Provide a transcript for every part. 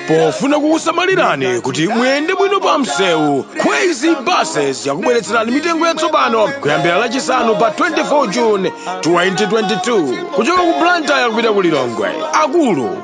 pofuna kukusamalirani kuti muyende bwino pa msewu Khweze buses yakubweretserani mitengo yatsopano kuyambira lachisanu pa 24 june 2022 kuchoka ku blantyre kupita ku lilongwe akulu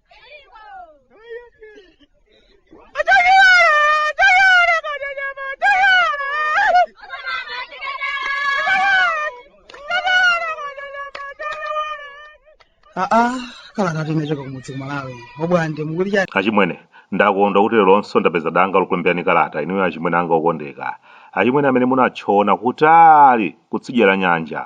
aa kalata imene ichoka kumudzi ku malawi obwande mukuti chani achimwene ndakondwa kuti leronso ndapeza danga lokulemberani kalata inuyo achimwene anga okondeka achimwene amene munatchona kutali kutsidya la nyanja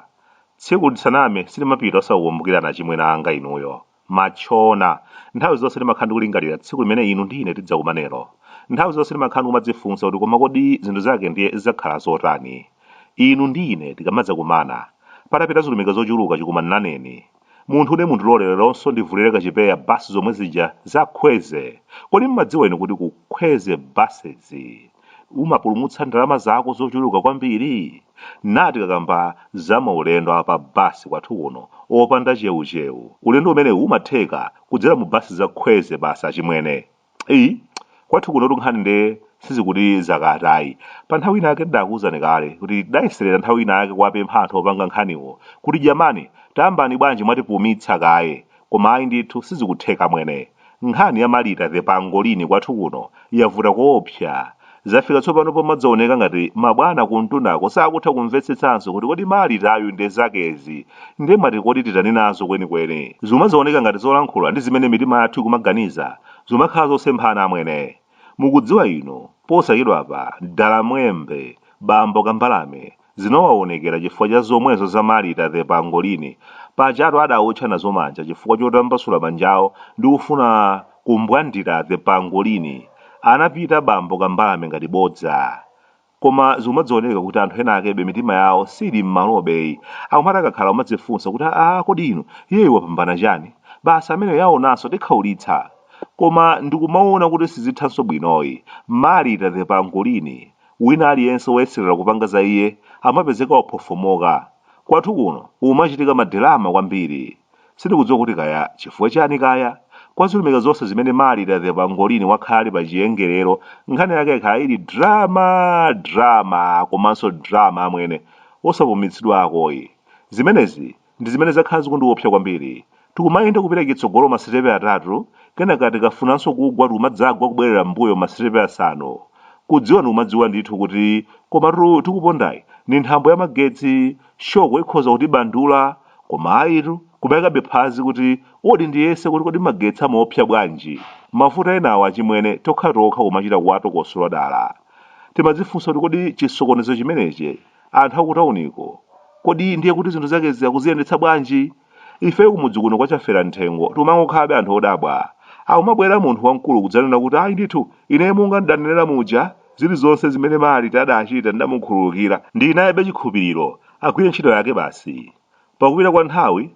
tsiku lisaname silimapita osakukumbukirani achimwene anga inuyo Matchona. Nthawi zonse ndimakhala ndikulingalira tsiku limene inu ndi ine tidzakumanenso. Nthawi zonse ndimakhala ndikumadzifunsa kuti koma kodi zinthu zake ndiye zidzakhala zotani? Inu ndi ine tikamadzakumana. Patapita zilumika zochuluka chikumananeni. Munthu ine mundilole leronso ndivulire kachipeya basi zomwe zija za Khweze! Kodi mmadziwa inu kuti ku Khweze buses. umapulumutsa ndalama zako zochuluka kwambiri tikakamba za maulendo a pa basi kwathu kuno opanda cheucheu ulendo umene umatheka kudzera mu basi za khweze basi achimwene iyi kwathu kunotu nkhani nde sizikuti zakatayi pa nthawi ina yake tidakuwuzani kale kuti tidayeserera nthawi ina yake kuwapempha anthu opanga nkhaniwo kuti jamani tayambani bwanji mwatipumitsa kaye Koma ayi ndithu sizikutheka mwene. Nkhani ya Malita the Pangolini kwathu kuno yavuta koopsa. Zafika tsopano pomadzaoneka ngati mabwana kumtundako sakutha kumvetsetsanso kuti kodi Malitayu nde zakezi nde mwati kodi titani nazo kwenikweni? Zikumadzaoneka ngati zolankhula ndi zimene mitima yathu ikumaganiza zikumakhala zosemphana amwene. Mukudziwa inu, posachedwapa Dalamwembe, Bambo Kambalame, Zinawawonekera chifukwa cha zomwezo za Marita the pangolini. Pajatu adawotcha nazo manja chifukwa chotambasula manjawo ndi kufuna kumbwandira the pangolini. Anapita bambo kambalame ngati bodza. Koma zikumadzawoneka kuti anthu ena akebe mitima yawo siili mmalobe yi. Akumati akakhala akumadzifunsa kuti aah kodi inu iyeyu wapambana chani? Basi ameneyo aona nso tikhaulitsa. Koma ndikumawona kuti sizithanso bwinoyi. Marita the pangolini Wina aliyense woyeserera kupanga za iye amapezeka waphofomoka. Kwathu kuno kumachitika madelama kwambiri. Sindikudziwa kuti kaya chifukwa chani kaya? Kwa zilumika zonse zimene Marita the Pangolini wakhala ali pa chiyengerero, nkhani yake yakhala ili drama, drama, komanso drama amwene. Osapumitsidwakoyi. Zimenezi Ndi zimene zakhala zikundiopsa kwambiri. Tikumayenda kupita chitsogolo masitepe atatu, kenaka tikafunanso kugwa tikumadzagwa kubwerera m'mbuyo masitepe asanu. Kudziwa ndikumadziwa ndithu kuti komatu tikupondayi ndi nthambo ya magetsi, shoko ikhoza kutibandula, koma ayitu, kumayikabe phazi kuti odi ndiyese kuti kodi magetsi amaopsa bwanji. Mavuto enawa achimwene tokhatokha kumachita kuwatokosola dala. Timadzifunsa kuti kodi chisokonezo chimenechi anthu akutauniko kodi ndiye kuti zinthu zakezi akuziyendetsa bwanji ifeyo kumudzi kuno kwa chafera mthengo timangokhalabe anthu odabwa akumabwera munthu wamkulu kudzanena kuti ayi ndithu ine monga ndidanenera muja zilizonse zimene malita adachita ndidamukhululukira ndinayebe chikhulupiriro agwire ntchito yake basi pakupita kwa nthawi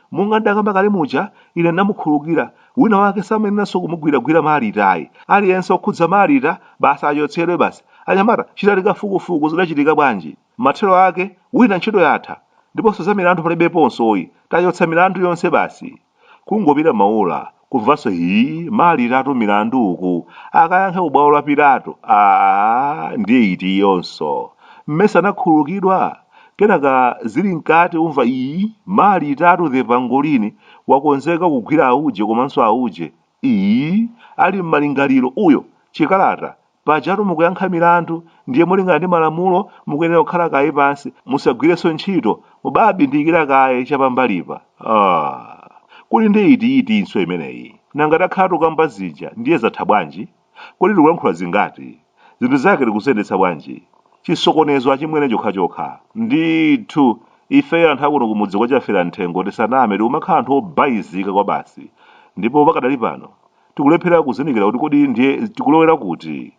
monga ndakamba kale muja ine ndamukhululukira wina wake samayeneranso kumugwiragwira malita ayi aliyense okhudza malita basi achotsedwe basi anyamata chitani kafukufuku zidachitika bwanji mathero ake wina ntchito yatha ndiponso za milandu palibeponso ayi tachotsa milandu yonse basi kungopita maola kumvanso hii malitatu milandu uku akayankhe ku bwalo la pilato aa ndiye iti iyonso mmesa anakhululukidwa kenaka zili mkati kumva iyi malitatu the pangolini wakonzeka kugwira auje komanso auje iyi ali m'malingaliro uyo chikalata Pajatu mukuyankha milandu ndiye molingana ndi malamulo mukuyenera kukhala kaye pansi musagwirenso ntchito mubabindikira kaye chapambalipa. Aaa kodi nde iti itinso imeneyi? Nanga takhala tukamba zija ndiye zatha bwanji? Kodi tikulankhula zingati? Zinthu zake tikuziyendetsa bwanji? Chisokonezo achimwene chokhachokha. Ndithu ifeyo anthu akuno kumudzi kwa Chaferamthengo tisaname tikumakhala anthu obayizika kwabasi ndipo pakadali pano Tikulephera kuzindikira kuti kodi ndiye tikulowera kuti?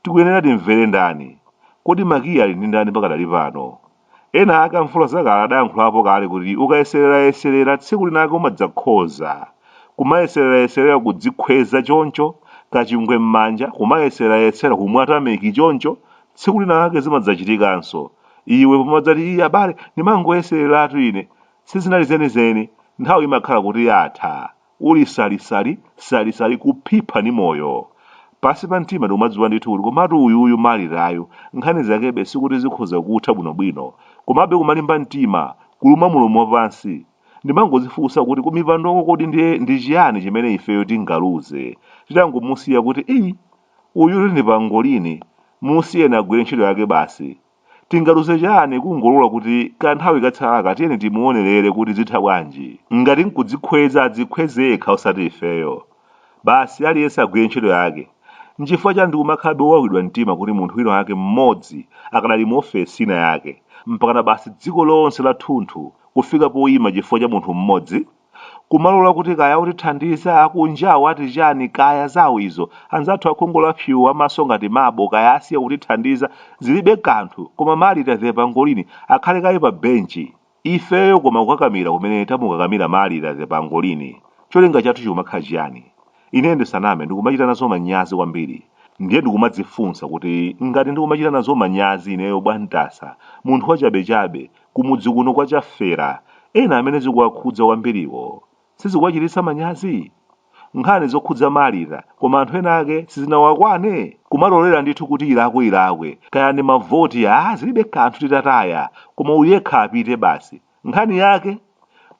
Tikuyenera timvere ndani? Kodi makiyi ali ndi ndani pakadali pano? Ena ake amvula zakale adayankhulapo kale kuti ukayesererayeserera tsiku linake umadzakhoza. Kumayesererayeserera kudzikhweza choncho, kachingwe m'manja, kumayeserayesera kumwa tameki choncho, tsiku linake zimadzachitikanso. Iwe pomadzati ii abale ndimangoyesereratu ine, sizinali zenizeni, nthawi imakhala kuti yatha. uli salisali salisali kuphipha ni moyo pansi pa mtima ndikumadziwa ndithu kuti komatu uyuyu malitayu nkhani zakebe sikuti zikhoza kutha bwinobwino komabe kumalimba mtima kuluma mulomo wapansi ndimangodzifunsa kuti kumipandoko kodi ndiye ndi chiyani chimene ifeyo tingaluze titangomusiya kuti iyi uyutu ndi pangolini musiyeni agwire ntchito yake basi Tingaluze chani kungolola kuti kanthawi katsalaka tiyeni timuonelere kuti zitha bwanji. Ngati nkudzikhweza adzikhweze yekha osati ifeyo. Basi aliyense agwire ntchito yake. Nchifukwa chani tikumakhalabe owawidwa mtima kuti munthu wina wake mmodzi akadali mu ofesi ina yake. Mpakana basi dziko lonse lathunthu kufika poima chifukwa cha munthu mmodzi? Kumalola kuti kaya otithandiza akunjawo ati chani kaya zawo izo. Anzathu akhungu la psuu amaso ngati mabo kaya asiya kutithandiza zilibe kanthu koma Marita the pangolini akhale kaye pa bench ifeyo koma kukakamira kumene tamukakamira Marita the pangolini cholinga chathu chikumakhala chiyani? Ine ndisaname ndikumachita nazo manyazi kwambiri. Ndiye ndikumadzifunsa kuti ngati ndikumachita nazo manyazi ineyo Bwantasa, munthu wachabechabe, kumudzi kuno kwa Chafera, ena amene zikuwakhudza kwambiriwo sizikuwachititsa manyazi? Nkhani zokhudza Marita koma anthu ena ake sizinawakwane? Kumalolera ndithu kuti ilakwe ilakwe, kaya ndi mavoti aa zilibe kanthu titataya, koma uyu yekha apite basi. Nkhani yake,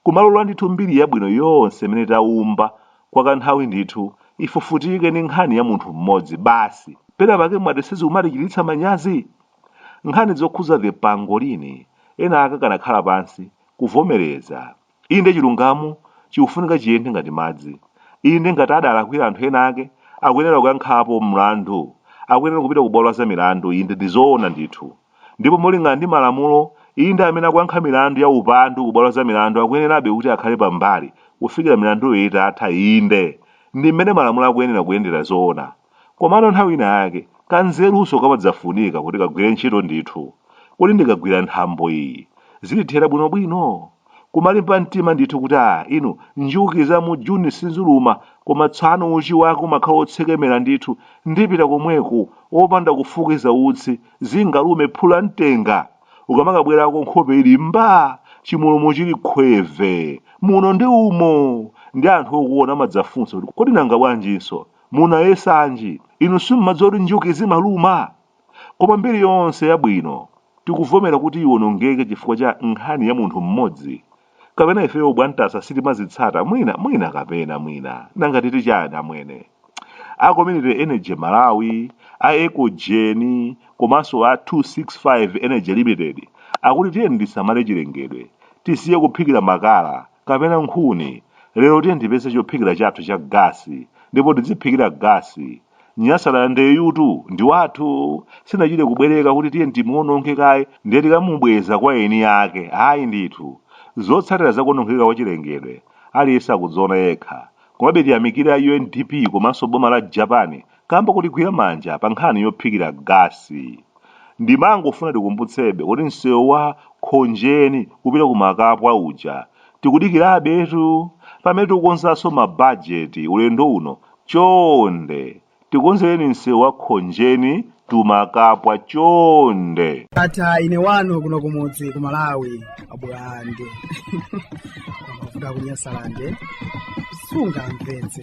kumalola ndithu mbiri yabwino yonse imene taumba kwa kanthawi ndithu ifufutike ndi nkhani ya munthu mmodzi basi. Pena pake mwati sizikumatichititsa manyazi? Nkhani zokhuza the pangolini ena ake akanakhala pansi, kuvomereza. Inde chilungamo chikufunika chiyende ngati madzi. Inde ngati adalakwira anthu ena ake, akuyenera kuyankhapo mlandu. Akuyenera kupita ku bwalo la zamilandu, inde ndi zoona ndithu. Ndipo molingana ndi malamulo, inde amene akuyankha milandu ya upandu ku bwalo la zamilandu akuyenerabe kuti akhale pambali kufikira milanduyo itatha, inde, ndi m'mene malamulo akuyenera kuyendera zoona. Komano nthawi ina yake, kanzerunso kamadzafunika kuti kagwire ntchito ndithu. Kodi ndikagwira nthambo iyi, zitithera bwinobwino? kumalimba mtima ndithu kuti a inu njuki za mu juni sinzuluma koma tsano uchi wake umakhala wotsekemera ndithu ndipita komweko opanda kufukiza utsi zingalume phula ntenga ukamakabwerako nkhope ili mba chimulomo chili khweve muno ndi umo ndi anthu okuona amadzafunsa kuti kodi nanga bwanjinso munayesanji inu simumadziwa kuti njuki zimaluma Koma mbiri yonse yabwino tikuvomera kuti iwonongeke chifukwa cha nkhani ya munthu mmodzi? Kapena ifeyo Bwantasa sitimazitsata mwina mwina kapena mwina nanga titi chani amwene? A Community Energy Malawi, a Ecogen komanso a 265 Energy Limited akuti tiyeni tisamale chilengedwe, tisiye kuphikira makala, kapena nkhuni lero tiyeni tipeze chophikira chathu cha gasi ndipo tidziphikira gasi Nyasalandeyutu ndi wathu sitinachite kubwereka kuti tiye timuononge kaye ndiye tikamubweza kwa eni ake ayi ndithu zotsatira zakuonongeka kwa chilengedwe aliyense akudziona yekha komabe tiyamikire a undp komanso boma la japan kamba kotigwira manja pa nkhani yophikira gasi Ndimangofuna tikumbutsebe kuti msewu wa Khonjeni kupita ku Makapwa uja tikudikirabetu. Pamene tikukonzanso mabajeti ulendo uno, chonde tikonzereni msewu wa Khonjeni to Makapwa chonde. Ndatha ine wanu kuno kumudzi ku Malawi. abulande kuvuga kunyasalande sungamvetse